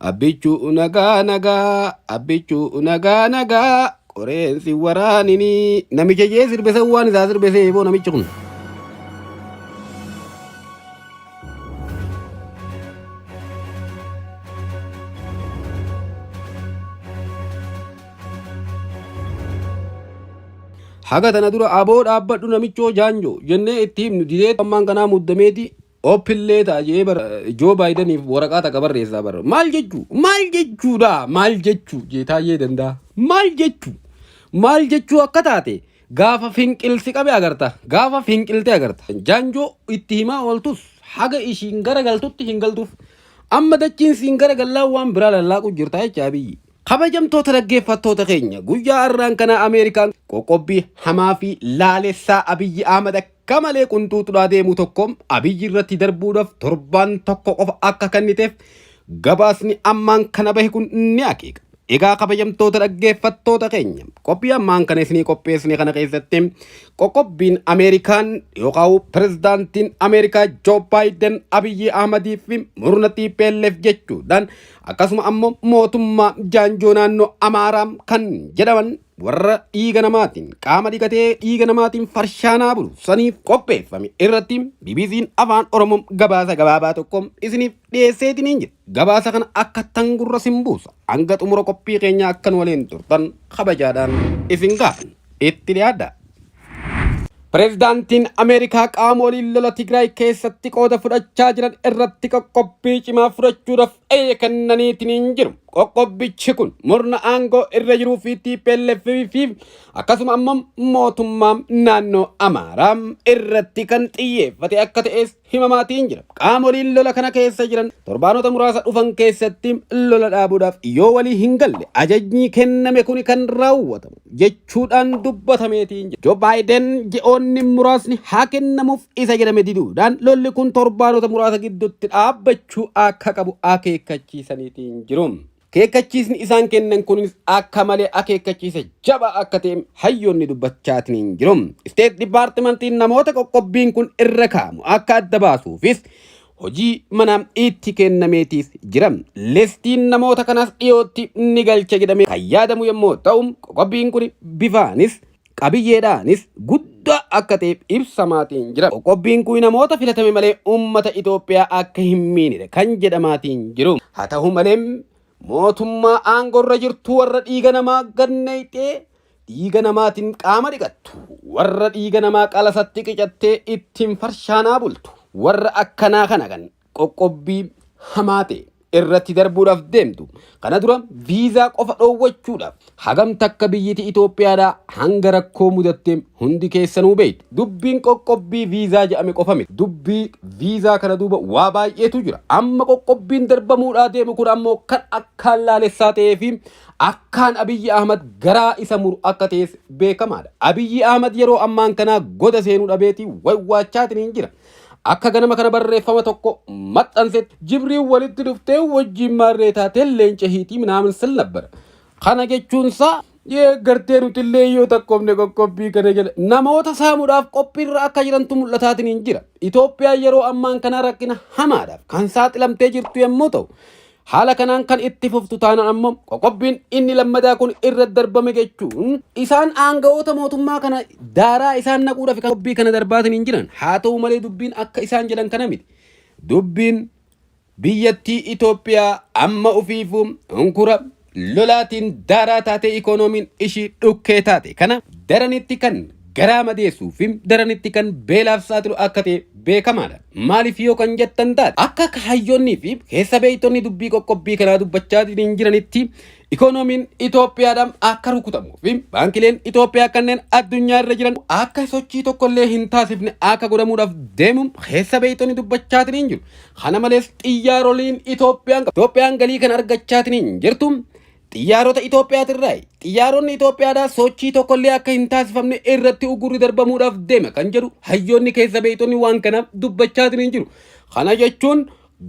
Abbichu nagaa nagaa abbichu nagaa nagaa qoreen si waraanini namicha jee sirbese waan isaa sirbese eeboo namichi kun. Haga tana dura aboo dhaabbadhu namichoo jaanjoo jennee itti himnu didee ammaan kanaa muddameeti Oppillee ta'a jee bar Joo Baayidaniif waraqaa taqa barreessaa bar. Maal jechuu? Maal jechuudha? Maal jechuu? Geetaayyee danda'a. Maal jechuu? Maal jechuu akka taate gaafa finqilsi qabe agarta. Gaafa finqilte agarta. Jaanjoo itti himaa ooltus haga ishiin gara galtutti hin galtuuf. Amma dachiin siin gara gallaa waan biraa lallaaqu jirta jecha abiyyi. Kabajamtoota dhaggeeffattoota keenya guyyaa har'aan kana Ameerikaan qoqqobbii hamaa fi laalessaa Abiyyi Ahmad Qamalee qunxuuxudhaa deemu tokko Abiyyi irratti darbuudhaaf torbaan tokko qofa akka kenniteef gabaasni ammaan kana bahe kun ni akeeka. Egaa kabajamtoota dhaggeeffattoota keenya qophii ammaan kana isinii qopheessine kana keessatti qoqqobbiin Ameerikaan yookaan pirezidaantiin Ameerikaa Joo Baayiden Abiyyi Ahmadii fi murna TPLF jechuudhaan akkasuma ammoo mootummaa jaanjoo naannoo Amaaraa kan jedhaman warra dhiiga namaatiin qaama dhiqatee dhiiga namaatiin farshaanaa bulu saniif qopheeffame irratti BBC'n afaan Oromoo gabaasa gabaabaa tokko isiniif dhiyeesseetiniin jira. Gabaasa kana akka tangurra sin buusa hanga xumura qophii keenyaa akkan waliin turtan kabajaadhaan isin gaafan itti dhiyaadha. Pireezidaantiin Ameerikaa qaamoliin lola Tigraay keessatti qooda fudhachaa jiran irratti qoqqobbii cimaa fudhachuudhaaf Eeyyee kennaniitiin hin jiru. Qoqqobbichi kun murna aangoo irra jiruu fi TPLF fi akkasuma ammoo mootummaa naannoo Amaaraa irratti kan xiyyeeffate akka ta'es himamaatiin jira. Qaamoliin lola kana keessa jiran torbaanota muraasa dhufan keessatti lola dhaabuudhaaf yoo walii hin galle ajajni kenname kun kan raawwatamu. jechuudhaan dubbatameetiin jira. Joo Baayiden ji'oonni muraasni haa kennamuuf isa jedhame diduudhaan lolli kun torbaanota muraasa gidduutti dhaabbachuu akka qabu akeekkachiisaniitiin jiru. Akeekkachiisni isaan kennan kunis akka malee akeekkachiisa jabaa akka ta'e hayyoonni dubbachaatiin jiru. Isteet Dipaartimantiin namoota qoqqobbiin kun irra kaa'amu akka adda baasuufis hojii manaa itti kennameetiif jira. Listiin namoota kanaas dhiyootti ni galcha jedhamee kan yaadamu yommuu ta'u, qoqqobbiin kun bifaanis qabiyyeedhaanis guddaa akka ta'e ibsamaatiin jira. Qoqqobbiin kun namoota filatame malee uummata Itoophiyaa akka hin miinedha kan jedhamaatiin jiru. Haa ta'u malee, mootummaa aangorra jirtu warra dhiiga namaa gad nayxee Dhiiga namaatiin qaama dhiqattu, warra dhiiga namaa qalasatti qicattee ittiin farshaanaa bultu, warra akkanaa kana kan qoqqobbii hamaa ta'e irratti darbuudhaaf deemtu kana dura viizaa qofa dhoowwachuudhaaf hagam takka biyyiti Itoophiyaadhaa hanga rakkoo mudatte hundi keessanuu beektu. Dubbiin qoqqobbii viizaa jedhame qofa miti. Dubbii viizaa kana duuba waa baay'eetu jira. Amma qoqqobbiin darbamuudhaa deemu kun ammoo kan akkaan laalessaa ta'ee fi Akkaan Abiyyi Ahmad garaa isa muru akka ta'es beekamaadha. Abiyyi Ahmad yeroo ammaan kanaa goda seenuu dhabeeti waywaachaatiin jira. Akka ganama kana barreeffama tokko maxxansetti jibriin walitti dhuftee wajjiin maarree taatee leenca hiitii minaamin sil nabbara. Kana jechuunsaa deeggartee nutillee yoo takkoofne qoqqobbii kana jala namoota saamuudhaaf qophiirra akka jirantu mul'ataatiin jira. Itoophiyaan yeroo ammaan kanaa rakkina hamaadhaaf kan saaxilamtee jirtu yommuu ta'u Haala kanaan kan itti fuftu taanaan ammoo qoqqobbiin inni lammadaa kun irra darbame jechuun isaan aangawoota mootummaa kana daaraa isaan naquudhaaf qoqqobbii kana darbaatiin hin jiran. Haa ta'u malee dubbiin akka isaan jedhan kana miti. Dubbiin biyyattii Itoophiyaa amma ofiifuu unkura lolaatiin daaraa taatee ikoonomiin ishii dhukkee taate kana daranitti kan garaa madeessuu fi daranitti kan beelaaf saaxilu akka ta'e beekamaadha. Maaliif yoo kan jettan taate akka kaayyoonnii fi keessa beektonni dubbii qoqqobbii kanaa dubbachaa hin jiranitti ikoonomiin Itoophiyaadhaan akka rukutamuu fi baankileen Itoophiyaa kanneen addunyaa irra jiran akka sochii tokkollee hin taasifne akka godhamuudhaaf deemu keessa beektonni dubbachaa hin jiru. Kana malees xiyyaaroliin Itoophiyaan Itoophiyaan galii kan argachaa hin jirtu. Xiyyaarota Itoophiyaatirraayi. Xiyyaaronni Itoophiyaadhaa sochii tokkollee akka hin taasifamne irratti uggurri darbamuudhaaf deema kan jedhu hayyoonni keessa beektonni waan kanaaf dubbachaatiniin jiru. Kana jechuun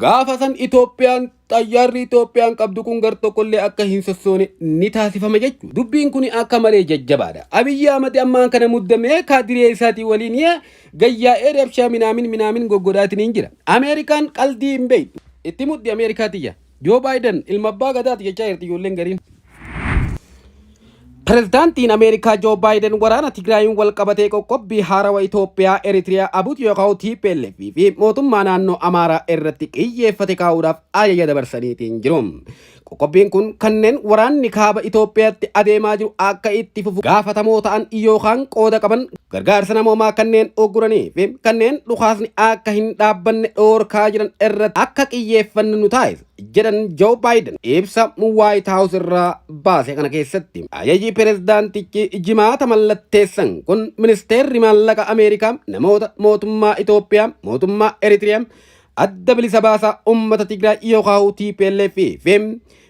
gaafa san Itoophiyaan xayyaarri Itoophiyaan qabdu kun gar tokkollee akka hin sossoone ni taasifama jechu. Dubbiin kun akka malee jajjabaadha. Abiyyi Ahmad ammaan kana muddamee kaadiree isaatii waliin gayyaa'ee rabshaa minaamin minaamin goggodhaatiniin jira. Ameerikaan qaldii hin beektu. Itti muddi Ameerikaa tiyya. Joo Baayiden ilma abbaa gadaati jechaa jirti ijoolleen gariin. Pirezidaantiin Ameerikaa Joo Baayiden waraana Tigraayiin wal qabatee qoqqobbii haarawa Itoophiyaa, Eritiriyaa, Abut Yookaa'u, TPLF fi mootummaa naannoo Amaaraa irratti xiyyeeffate kaa'uudhaaf ajaja dabarsaniitiin jiru. Qoqqobbiin kun kanneen waraanni kaaba Itoophiyaatti adeemaa jiru akka itti fufu gaafatamoo ta'an yookaan qooda qaban Gargaarsa namoomaa kanneen ugguranii fi kanneen dhukaasni akka hin dhaabbanne dhoorkaa jiran irratti akka qiyyeeffannu nu taasisa, jedhan Joo Baayiden ibsa Waayit Haawus irraa baase kana keessatti. Ajaji pirezidaantichi Jimaata mallatteessan kun ministeerri maallaqa Ameerikaa namoota mootummaa Itoophiyaa, mootummaa Eritiriyaa, adda bilisa baasaa uummata Tigraay yookaan TPLF fi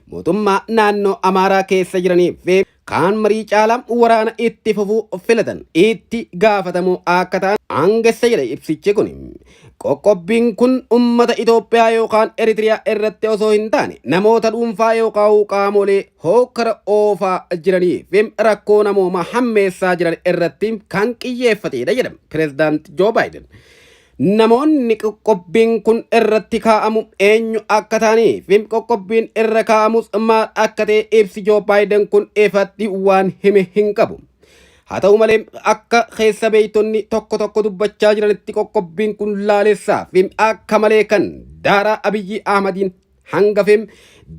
mootummaa naannoo Amaaraa keessa jiranii fi kaan marii caala waraana itti fufuu filatan itti gaafatamoo akka ta'an aangessa jedha ibsichi kun. Qoqqobbiin kun ummata Itoophiyaa yookaan Eritiriyaa irratti osoo hin taane namoota dhuunfaa yookaan qaamolee hookkara oofaa jiranii fi rakkoo namoomaa hammeessaa jiran irratti kan qiyyeeffateedha jedha Pireezidaant Joo Baayiden. Namoonni qoqqobbiin kun irratti kaa'amu eenyu akka ta'anii fi qoqqobbiin irra kaa'amus maal akka ta'e ibsi Joo Baayiden kun ifatti waan hime hin qabu. Haa ta'u malee akka keessa beektonni tokko tokko dubbachaa jiranitti qoqqobbiin kun laalessaa fi akka malee kan daaraa Abiyyi Ahmadiin hanga fem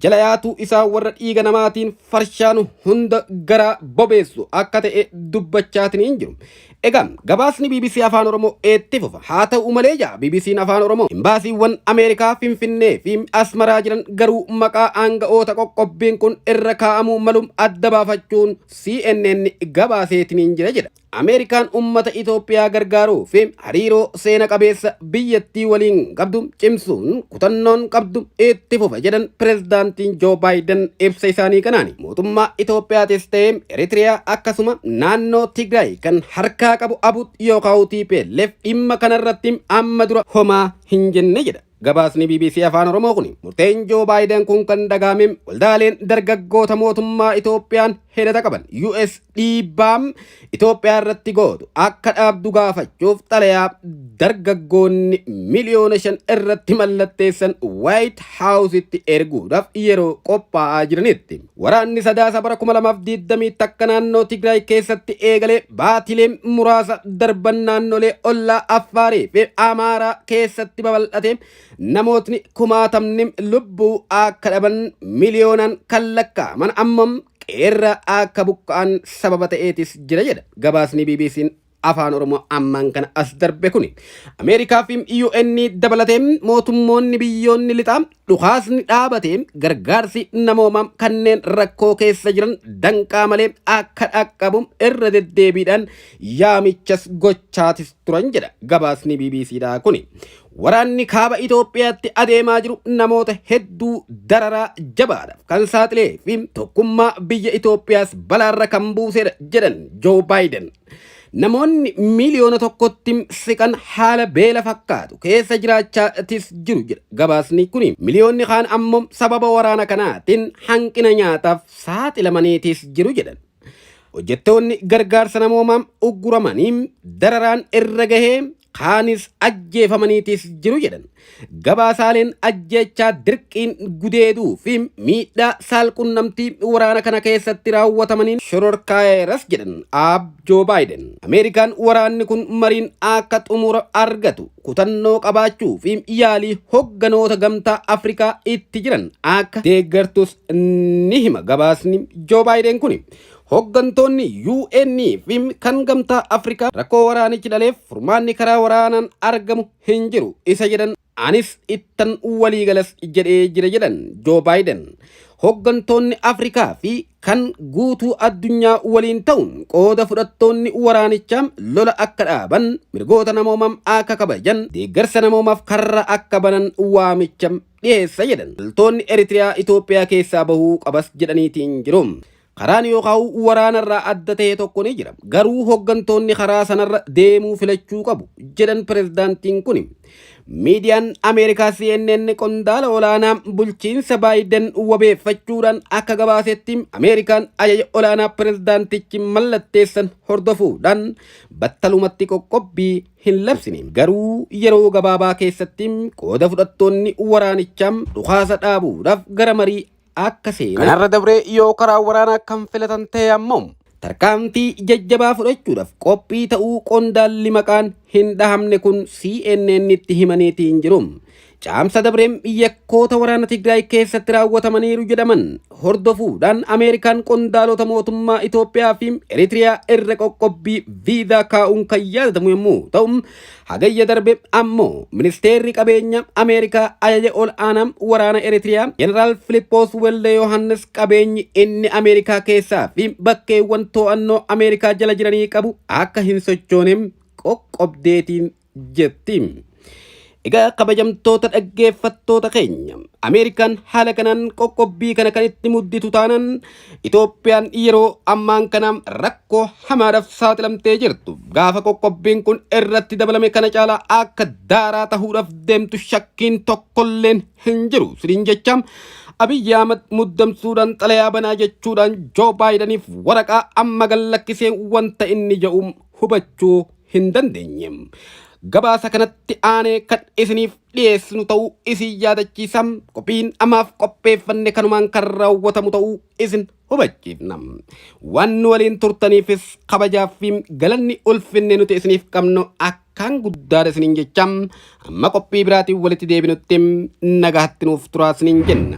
jala yaatuu isaa warra dhiiga namaatiin farshaanu hunda garaa bobeessu akka ta'e dubbachaatiin hin jiru. Egaa gabaasni BBC Afaan Oromoo eetti fufa. Haa ta'u malee jaa BBC'n Afaan Oromoo imbaasiiwwan Ameerikaa Finfinnee fi Asmaraa jiran garuu maqaa aanga'oota qoqqobbiin kun irra kaa'amuu malu adda baafachuun CNN gabaaseetiin hin jira jedha. Ameerikaan ummata Itoophiyaa gargaaruu fi hariiroo seena qabeessa biyyattii waliin qabdu cimsuun kutannoon qabdu itti fufa jedhan pirezidaantiin Joo Baayiden ibsa isaanii kanaan mootummaa Itoophiyaatis ta'ee Eritiriyaa akkasuma naannoo Tigraay kan harkaa qabu abut yookaan TPLF dhimma kanarratti amma dura homaa hin jenne jedha. Gabaasni bbc Afaan Oromoo kun murteen Joo Baayiden kun kan dhagaame waldaaleen dargaggoota mootummaa Itoophiyaan hidhata qaban US dhiibbaa Itoophiyaa irratti gootu akka dhaabdu gaafachuuf xalayaa dargaggoonni miliyoona shan irratti mallatteessan Waayit Haawusitti erguudhaaf yeroo qophaa'aa jiranitti. Waraanni Sadaasa bara 2021 naannoo Tigraay keessatti eegalee baatilee muraasa darban naannolee ollaa Affaarii fi Amaaraa keessatti babal'ate namootni kumaatamni lubbuu akka dhaban miliyoonaan kan lakkaa'aman ammoo qe'eerraa akka buqqa'an sababa ta'eetis jira jedha gabaasni BBC'n Afaan Oromoo ammaan kana as darbe kun Ameerikaa fi UN dabalatee mootummoonni biyyoonni lixaa dhukaasni dhaabatee gargaarsi namoomaa kanneen rakkoo keessa jiran danqaa malee akka dhaqqabu irra deddeebiidhaan yaamichas gochaatis turan jedha gabaasni BBCdhaa kuni. Waraanni kaaba Itoophiyaatti adeemaa jiru namoota hedduu dararaa jabaadhaaf kan saaxilee fi tokkummaa biyya Itoophiyaas balaarra kan buusedha jedhan Joo Baayiden. Namoonni miiliyoona tokkotti siqan haala beela fakkaatu keessa jiraachaatis jiru jedha gabaasni kun. Miliyoonni kaan ammoo sababa waraana kanaatiin hanqina nyaataaf saaxilamaniitis jiru jedhan. Hojjettoonni gargaarsa namoomaa ugguramanii dararaan irra gahee kaanis ajjeefamaniitis jiru jedhan. Gabaasaaleen ajjeechaa dirqiin gudeeduu fi miidhaa saalqunnamtii waraana kana keessatti raawwatamaniin shororkaayeeras jedhan aab Joo Baayiden. Ameerikaan waraanni kun mariin akka xumura argatu kutannoo qabaachuu fi yaalii hogganoota gamtaa Afrikaa itti jiran akka deeggartus ni hima gabaasni Joo Baayiden kuni. Hoggantoonni UN fi kan Gamtaa Afrikaa rakkoo waraanichi dhaleef furmaanni karaa waraanaan argamu hin jiru isa jedhan anis ittan waliigalas jedhee jira jedhan Joo Baayiden. Hoggantoonni Afrikaa fi kan guutuu addunyaa waliin ta'uun qooda fudhattoonni waraanichaa lola akka dhaaban, mirgoota namoomaa akka kabajan, deeggarsa namoomaaf karra akka banan waamicha dhiyeessa jedhan. Loltoonni Eritiriyaa Itoophiyaa keessaa bahuu qabas jedhaniitiin jiru. Karaan yookaan waraanarraa adda ta'e tokko ni jira. Garuu hoggantoonni karaa sanarra deemuu filachuu qabu jedhan pirezidaantiin kuni. Miidiyaan Ameerikaa CNN qondaala olaanaa bulchiinsa Baayiden wabeeffachuudhaan akka gabaasetti Ameerikaan ajaja olaanaa pirezidaantichi mallatteessan hordofuudhaan battalumatti qoqqobbii hin labsine. Garuu yeroo gabaabaa keessatti qooda fudhattoonni waraanichaa dhukaasa dhaabuudhaaf gara marii akka seene. Kanarra dabree yoo karaa waraanaa kan filatan ta'e ammoo. Tarkaanfii jajjabaa fudhachuudhaaf qophii ta'uu qondaalli maqaan hin dhahamne kun CNN'tti himaniitiin jiru. Caamsa dabreem yakkoota waraana Tigraay keessatti raawwatamaniiru jedhaman hordofuudhaan Ameerikaan qondaalota mootummaa Itoophiyaa fi Eritiriyaa irra qoqqobbii viizaa kaa'uun kan yaadatamu yommuu ta'u Hagayya darbe ammoo ministeerri qabeenya Ameerikaa ajaja ol aanaa waraana Eritiriyaa Jeneraal Filippoos Welde Yohaannis qabeenyi inni Ameerikaa keessaa fi bakkeewwan to'annoo Ameerikaa jala jiranii qabu akka hin sochoone qoqqobdeetiin jetti. Egaa kabajamtoota dhaggeeffattoota keenya Ameerikaan haala kanaan qoqqobbii kana kan itti mudditu taanaan Itoophiyaan yeroo ammaan kana rakkoo hamaadhaaf saaxilamtee jirtu gaafa qoqqobbiin kun irratti dabalame kana caalaa akka daaraa tahuudhaaf deemtu shakkiin tokkolleen hin jiru siniin jecha Abiyyi Ahmad muddamsuudhaan xalayaa banaa jechuudhaan Joo Baayidaniif waraqaa amma gallakkisee wanta inni jedhu hubachuu hin dandeenye. Gabaasa kanatti aanee kan isiniif dhiyeessinu ta'uu isin yaadachiisa. Qophiin amaaf qopheeffanne kanumaan kan raawwatamu ta'uu isin hubachiifna. Waan nu waliin turtaniifis kabajaa fi galanni ulfinne nuti isiniif qabnu akkaan guddaadha isiniin jecha amma qophii biraatiin walitti deebinutti nagaatti nuuf turaa isiniin jenna.